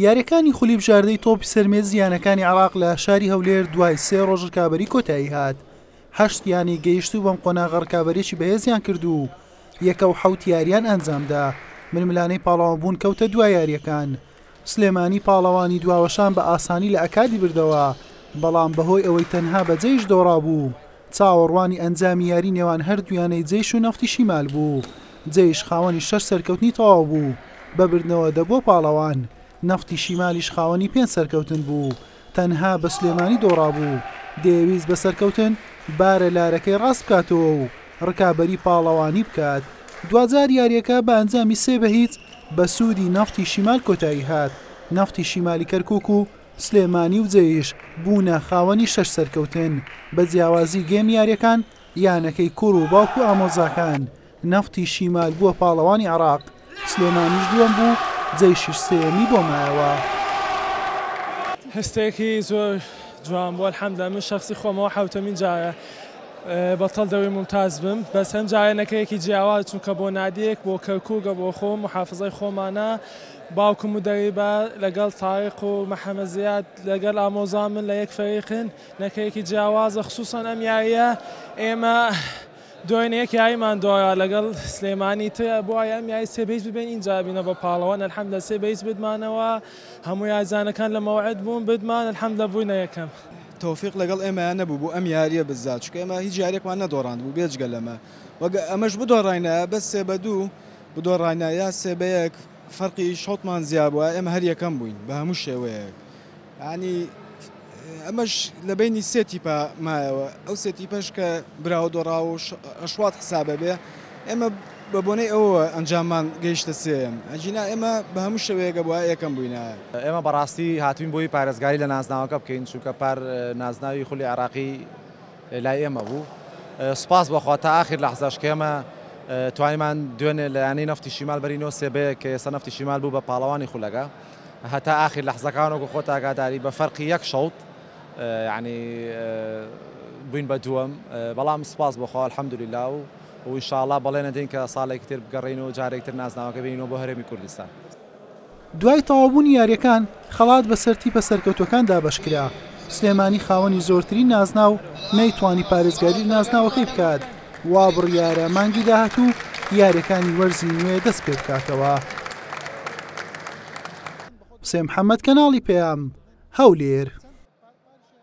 یارییەکانی خولی بژاردەی تۆپی سەر مێزی یانەکانی عێراق لە شاری هەولێر دوای سێ ڕۆژ رکابەری کۆتایی هات هەشت یانەی گەیشتوو بەم قۆناغە رکابەرێکی بەهێزیان کرد و یەکە و حەوت یاریان ئەنجامدا ململانەی پاڵەوان بوون کەوتە دوا یارییەکان سلێمانی پاڵەوانی دواوەشان بە ئاسانی لە ئەکادی بردەوە بەڵام بەهۆی ئەوەی تەنها بە جەیش دۆڕابوو چاوەڕوانی ئەنجامی یاری نێوان هەردوویانەی جەیش و نەفتی شیمال بوو، جەیش خاوەنی شەش سەرکەوتنی تەواو بوو بە بردنەوە دە بۆ پاڵەوان، نەفتی شیمالیش خاوەنی پێنج سەرکەوتن بوو، تەنها بە سلێمانی دۆڕابوو، دەیەویست بە سەرکەوتن بارە لارەکەی ڕاست بکاتەوە و ڕکابەری پاڵەوانی بکات. دواجار یارییەکە بە ئەنجامی سێ بە هیچ بە سوودی نەفتی شیمال کۆتایی هات، نەفتی شیمالی کەرکووک و سلێمانی و جێیش بوونە خاوەنی شەش سەرکەوتن، بە جیاوازی گێم یاریەکان یانەکەی کوڕ و باوک و ئامۆزاکان، نەفتی شیمال بووە پاڵەوانی عێراق، سلێمانیش دووەم بوو جەیشیش سێیەمی بۆ مایەوە. هەستێکی زۆر جوان بوو الحمدللە من شەخسی خۆمەوە حەوتەمین جارە بەتەڵ دەوری مومتاز بم بەس ئەمجارە نەکەیەکی جیاواز چونکە بۆ نادیەک بۆ کەرکووکە بۆ خۆم محافزەی خۆمانە باوکم و دەی با لەگەڵ تاریق و محمد زیاد لەگەل ئامۆزامن لە یەک فەریقن نەکەیەکی جیاوازە خسوسەن ئەم یاریە ئێمە دۆینە یەک یاریمان دۆرا لەگەڵ سلێمانی تر بوایە ئەم یاری سێ بەیس ببەین ئینجا ئەبینە بە پاڵەوان الحمدللە سێ بەیس بردمانەوە هەموو یاریزانەکان لە مەوعد بوون بردمان الحمدللە بووینە یەکەم. تۆفیق لەگەڵ ئێمەیا نەبوو بۆ ئەم یاریە بزات چونکە ئێمە هیچ یاریەکمان نەدۆڕاندبوو بێجگە لەمە و ئەگە ئەمەش بدۆڕاینایە بەس سێ بە دوو بدۆڕاینە یان سێ بە یەک فەرقی شەوتمان زیا بوایە ئێمە هەر یەکەم بووین بە هەموو شێوەیەک یانی ئەمەش لە بینی سێ تیپە مایەوە ئەو سێ تیپەش کە براوە دۆڕاو و ئەشوات حسابە بێ ئێمە بە بۆنەی ئەوە ئەنجاممان گەیشتە سێم ئەجینا ئێمە بە هەموو شێوەیەکە بووە یەکەم بووینە. ئێمە بەڕاستی هاتووین بۆی پارێزگاری لە نازناوەکە بکەین چونکە پار نازناوی خولی عێراقی، لای ئێمە بوو سوپاس بۆ خوا تا ئاخیر لەحزەش کە ئێمە توانیمان دوێنێ لە یانەی نەفتی شیمال بەری نۆ سێ بە یەک کە ئێستا نەفتی شیمال بوو بە پاڵەوانی خولەکە هەتا ئاخیر لەحزەکان وەکو خۆت ئاگاداری بە فەرقی یەک شەوت یعنی بووین بە دووەم بەڵام سوپاس بۆ خوا الحمدللە و و انشاءاللە بەڵێنە دێین کە ساڵێکی تر بگەڕێینەوە جارێکی تر نازناوەکە بێنینەوە بۆ هەرێمی کوردستان. دوای تەواوبوونی یارییەکان خەڵات بەسەر تیپە سەرکەوتووەکان دابەشکرا، سلێمانی خاوەنی زۆرترین نازناو نەیتوانی پارێزگاری لە نازناوەکەی بکات، وا بڕیارە مانگی داهاتوو یارییەکانی وەرزی نوێ دەستپێبکاتەوە.